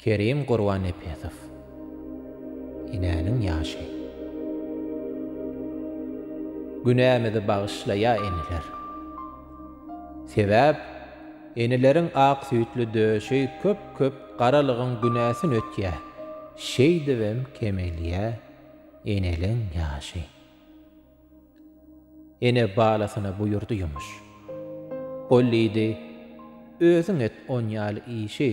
Kerim Gurbannepesow Enäniň ýaşy Günämizi bagyşlaýa eneler. Sebäp eneleriň ak süýtli döşi köp köp garalygyň günäsin ötýä şeýdibem kemelýä eneliň ýaşy. Ene balasyna buýurdy ýumuş. Ol diýdi, Özüň et on ýaly işi.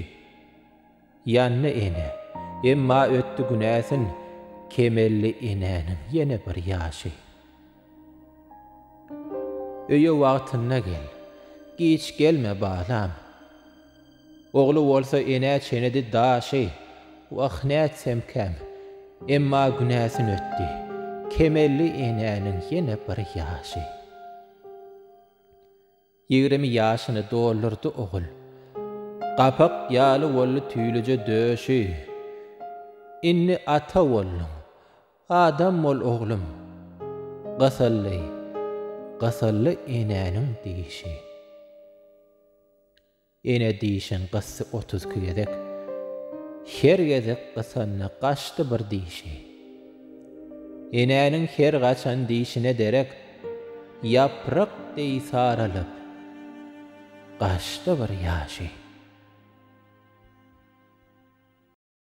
Ýandy ene, emma ötdi günäsin, Kemeldi enäniň ýene bir ýaşy. Öýe wagtynda gel, giç gelme balam. Ogly bolsa enä çenedi daşy, wah nätsemkäm, emma günäsin ötdi, kemeldi enäniň ýene bir ýaşy. Ýigrimi ýaşyny doldurdy ogul, gapak ýaly boldy tüýlüje döşi. Indi ata bolduň, adam bol oglum, gysyldy, gysyldy enäniň dişi. Ene dişin gysdy otuz iki gezek. Her gezek gysanda gaçdy bir dişi. Enäniň her gaçan dişine derek ýaprak deý saralyp, gaçdy bir ýaşy.